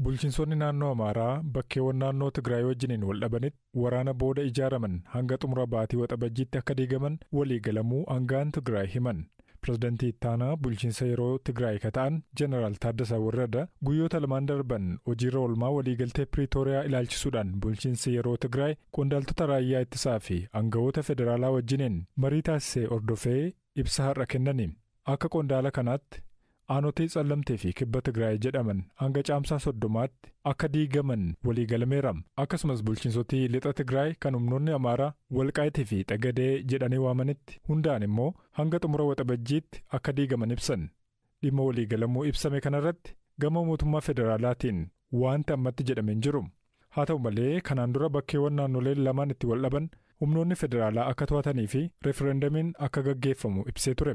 Bulchinsonni naannoo Amaaraa bakkeewwan naannoo Tigraay wajjiniin wal dhabanitti waraana booda ijaaraman hanga xumura baatii Waxabajjiitti akka diigaman walii galamuu aanga'aan Tigraay himan. Pirezidantii ittaanaa bulchiinsa yeroo Tigraay ka ta'an Jeneraal Taaddasa Warrada guyyoota lamaan darban hojiirra oolmaa waliigaltee Piriitooriyaa ilaalchisuudhaan bulchiinsi yeroo Tigraay qondaaltota raayyaa ittisaa fi aanga'oota federaalaa wajjiniin marii taasise hordofee ibsa har'a kennaniin. Akka qondaala kanaatti aanotee Tsallamtee fi Kibba Tigraay jedhaman hanga Caamsaa soddomaatti akka diigaman waliigalameera. Akkasumas bulchiinsoti Lixa Tigraay kan humnoonni Amaaraa Walqaayit fi Xagadee jedhanii waamanitti hundaa'an immoo hanga xumura Waxabajjiitti akka diigaman ibsan. Dhimma waliigalamuu ibsame kanarratti gama mootummaa federaalaatiin waanti ammatti jedhame hin jiru. Haa ta'u malee kanaan dura bakkeewwan naannoleen lamaan itti waldhaban humnoonni federaalaa akka to'atanii fi referendamiin akka gaggeeffamu ibsee ture.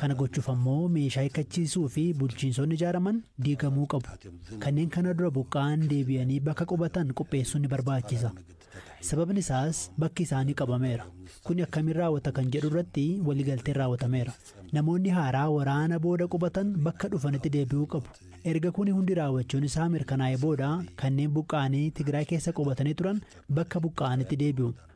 Kana gochuuf ammoo meeshaa hikkachiisuu fi bulchiinsonni ijaaraman diigamuu qabu. Kanneen kana dura buqqa'an deebi'anii bakka qubatan qopheessuun ni barbaachisa. Sababni isaas bakki isaanii qabameera. Kuni akkamiin raawwata kan jedhu irratti waliigalteen raawwatameera. Namoonni haaraa waraana booda qubatan bakka dhufanitti deebi'uu qabu. Erga kuni hundi raawwachuun isaa mirkanaa'ee booda kanneen buqqa'anii Tigraay keessa qubatanii turan bakka buqqa'anitti deebi'u.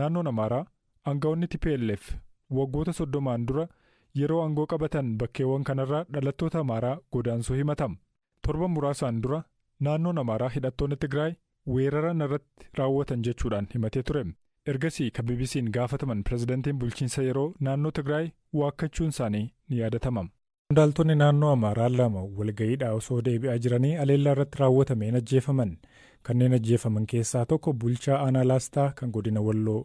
Naannoon Amaaraa aanga'oonni tplf waggoota soddomaan dura yeroo aangoo qabatan bakkeewwan kanarraa dhalattoota Amaaraa godaansuu himatama. Torban muraasaan dura naannoon Amaaraa hidhattoonni Tigraay weerara narratti raawwatan jechuudhaan himatee ture. Ergasii kan BBC'n gaafataman pirezidantiin bulchiinsa yeroo naannoo Tigraay waakkachuunsaanii ni yaadatama. Qondaaltonni naannoo Amaaraa lama walga'iidhaa osoo deebi'aa jiranii haleellaa irratti raawwatameen ajjeefaman. Kanneen ajjeefaman keessaa tokko bulchaa aanaa Laastaa kan godina Walloo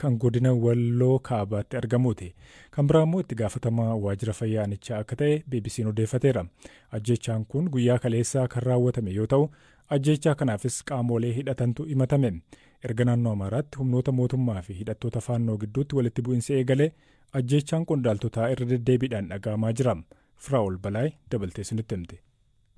kan godina Walloo kaabaatti argamuuti. Kan biraa immoo itti gaafatamaa waajjira fayyaa aanichaa akka ta'e BBC'n odeeffateera. Ajjeechaan kun guyyaa kaleessaa kan raawwatame yoo ta'u, ajjeechaa kanaafis qaamolee hidhatantu himatame. Erga naannoo Amaaraatti humnoota mootummaa fi hidhattoota faannoo gidduutti walitti bu'insi eegalee Ajjeechaan qondaaltotaa irra deddeebiidhaan dhaga'amaa jira. Firaa'ol Balaay dabaltee isinitti himti.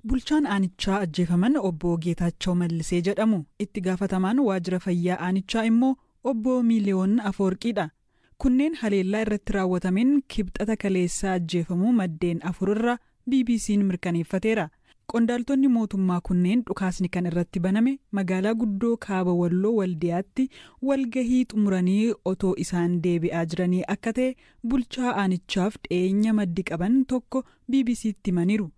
Bulchaan aanichaa ajjeefaman Obbo Geetaachaw Mallisee jedhamu. Itti gaafatamaan waajjira fayyaa aanichaa immoo Obbo Miiliyoon Afoorqiidha. Kunneen haleellaa irratti raawwatameen Kibxata kaleessaa ajjeefamuu maddeen afur irraa BBC'n mirkaneeffateera. Qondaaltonni mootummaa kunneen dhukaasni kan irratti baname magaalaa guddoo Kaaba Walloo Waldiyaatti walgahii xumuranii otoo isaan deebi'aa jiranii akka ta'e bulchaa aanichaaf dhiyeenya maddi qaban tokko BBC'tti himaniiru.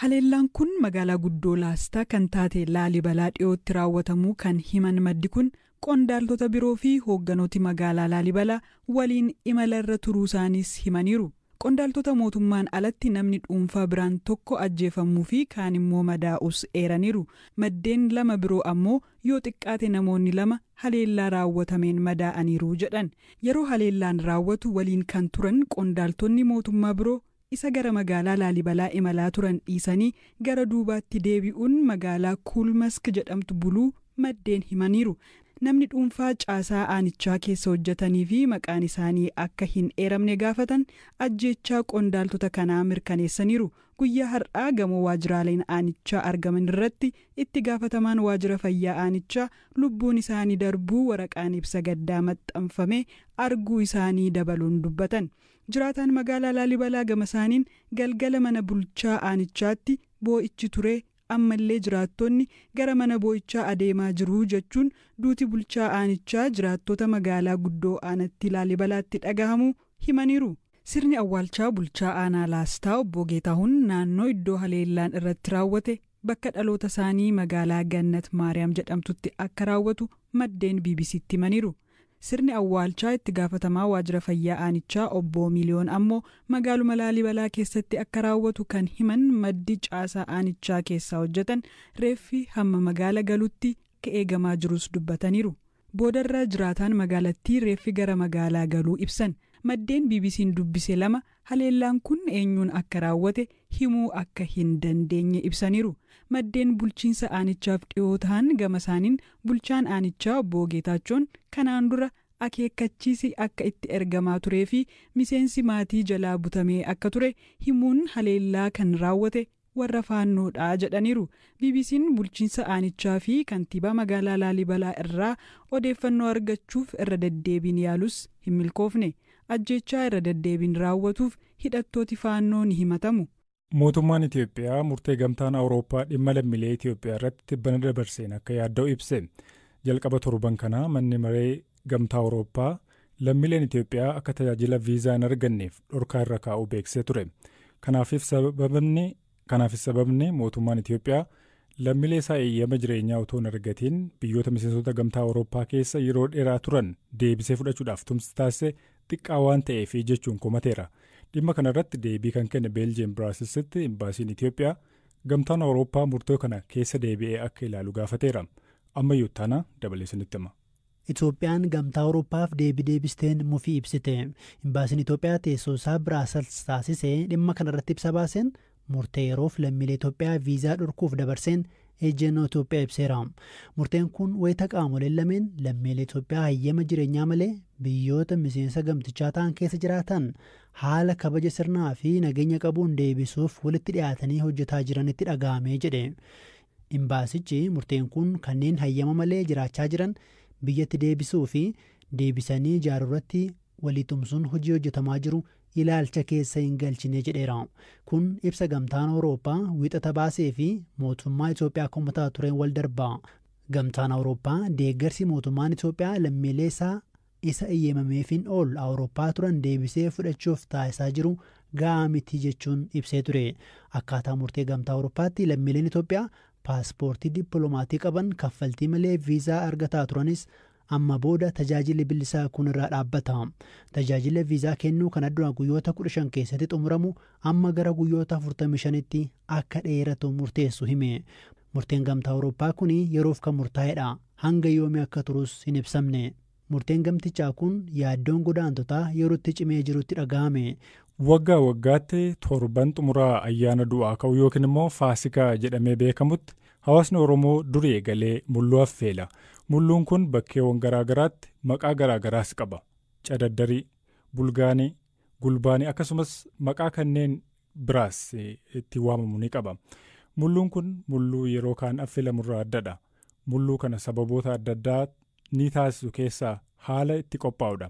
Haleellaan kun magaalaa guddoo Laastaa kan taate Laalibalaa dhiyootti raawwatamuu kan himan maddi kun, qondaaltota biroo fi hoogganooti magaalaa Laalibala waliin imala irra turuusaaniis himaniiru. Qondaaltota mootummaan alatti namni dhuunfaa biraan tokko ajjeefamuu fi kaan immoo madaa'uus eeraniiru. Maddeen lama biroo ammoo yoo xiqqaate namoonni lama haleellaa raawwatameen madaa'aniiru jedhan. Yeroo haleellaan raawwatu waliin kan turan qondaaltonni mootummaa biroo Isa gara magaalaa Laalibalaa imalaa turan dhiisanii gara duubaatti deebi'uun magaalaa Kuulmask jedhamtu buluu maddeen himaniiru. Namni dhuunfaa caasaa aanichaa keessa hojjetanii fi maqaan isaanii akka hin eeramne gaafatan ajjeechaa qondaaltota kanaa mirkaneessaniiru. Guyyaa har'aa gamoo waajjiraaleen aanichaa argaman irratti itti gaafatamaan waajjira fayyaa aanichaa lubbuun isaanii darbuu waraqaan ibsa gaddaa maxxanfame arguu isaanii dabaluun dubbatan. Jiraataan magaalaa Laalibalaa gamasaaniin, galgala mana bulchaa aanichaatti boo'ichi ture, ammallee jiraattonni gara mana boo'ichaa adeemaa jiru jechuun duuti bulchaa aanichaa jiraattota magaalaa guddoo aanattii Laalibalaatti dhagahamuu himaniiru. Sirni awwaalchaa bulchaa aanaa Laastaa obbo Geetaahun naannoo iddoo haleellaan irratti raawwate bakka dhalootasaanii magaalaa Gannat Maariyaam jedhamtutti akka raawwatu maddeen BBC'tti himaniiru. Sirni awwaalchaa itti gaafatamaa waajjira fayyaa aanichaa obbo Miliyoon ammoo magaaluma Laalibalaa keessatti akka raawwatu kan himan maddi caasaa aanichaa keessaa hojjetan reeffi hamma magaala galutti akka eegamaa jirus dubbataniiru. Boodarra jiraataan magaalattii reeffi gara magaalaa galuu ibsan. Maddeen BBC'n dubbise lama Haleellaan kun eenyuun akka raawwate himuu akka hin dandeenye ibsaniiru. Maddeen bulchiinsa aanichaaf dhiyoo tahan gamasaaniin bulchaan aanichaa obbo Geetaachoon kanaan dura akeekkachiisi akka itti ergamaa turee fi miseensi maatii jalaa butamee akka ture himuun haleellaa kan raawwate warra faannoodha jedhaniiru. BBC'n bulchiinsa aanichaa fi kantiibaa magaalaa Laalibalaa irraa odeeffannoo argachuuf irra deddeebiin yaalus hin milkoofne. Ajjeechaa irra deddeebiin raawwatuuf hidhattooti faannoo ni himatamu. Mootummaan Itiyoophiyaa murtee Gamtaan Awurooppaa dhimma lammilee Itiyoophiyaa irratti tibbana dabarseen akka yaadda'u ibse. Jalqaba torban kanaa manni maree Gamtaa Awurooppaa lammiileen Itoophiyaa akka tajaajila viizaa hin arganneef dhorkaa irra kaa'uu beeksisee ture. Kanaafis sababni Kanaafis sababni mootummaan Itoophiyaa lammiilee isaa eeyyama jireenyaa otoo hin argatiin biyyoota miseensota Gamtaa Awurooppaa keessa yeroo dheeraa turan deebisee fudhachuudhaaf tumsi taasise xiqqaa waan ta'eefi jechuun komateera. Dhimma kana irratti deebii kan kenne Beeljiyeem Biraasilsitti imbaasiin Itoophiyaa Gamtaan Awurooppaa murtoo kana keessa deebi'ee akka ilaalu gaafateera. Ammayyuu ittaana dabalee isinitti hima. Itoophiyaan Gamtaa Awurooppaaf deebii deebisteen mufii ibsite. Imbaasiin Itoophiyaa teessoo isaa Biraasels taasise dhimma kana irratti ibsa baaseen murtee yeroof lammiilee Itoophiyaa viizaa dhorkuuf dabarseen ejjennoo Itoophiyaa ibseera. Murteen kun wayita qaamoleen lameen lammiilee Itoophiyaa hayyama jireenyaa malee biyyoota miseensa gamtichaa ta'an keessa jiraatan haala kabaja sirnaa fi nageenya qabuun deebisuuf walitti dhiyaatanii hojjetaa jiranitti dhaga'ame jedhe Imbaasichi murteen kun kanneen hayyama malee jiraachaa jiran biyyatti deebisuu fi deebisanii ijaaruurratti walii tumsuun hojii hojjetamaa jiru ilaalcha keessa hin galchine jedheera. Kun ibsa Gamtaan Awurooppaa Wiixata baasee fi mootummaa Itoophiyaa komataa tureen wal darba. Gamtaan Awurooppaa deeggarsi mootummaan Itoophiyaa lammiilee isaa isa eyyemameefiin ol Awurooppaa turan deebisee fudhachuuf taasisaa jiru ga'aa miti jechuun ibsee ture. Akkaataa murtee Gamtaa Awurooppaatti lammiileen Itoophiyaa paaspoortii dippiloomaatii qaban kaffaltii malee viizaa argataa turanis amma booda tajaajilli billisaa kun irraa dhaabbata. Tajaajila viizaa kennuu kana dura guyyoota 15 keessatti xumuramu amma gara guyyoota 45tti akka dheeratu murteessu hime. Murteen Gamtaa Awurooppaa kun yeroof kan murtaa'edha. Hanga yoomii akka turus hin ibsamne. Murteen gamtichaa kun yaaddoon godaantotaa yerootti cimee jirutti dhaga'ame. Waggaa waggaatti torban xumuraa ayyaana du'aa ka'uu yookiin immoo Faasikaa jedhamee beekamutti hawaasni Oromoo durii eegalee mulluu affeela. Mulluun kun bakkeewan garaa garaatti maqaa garaa garaas qaba. Cadaddarii. Bulgaanii. Gulbaani akkasumas maqaa kanneen biraas ittiin waamamu ni qaba. Mulluun kun mulluu yeroo kaan affelamurraa addadha. Mulluu kana sababoota adda addaa ni taasisu keessaa haala itti qophaa'udha.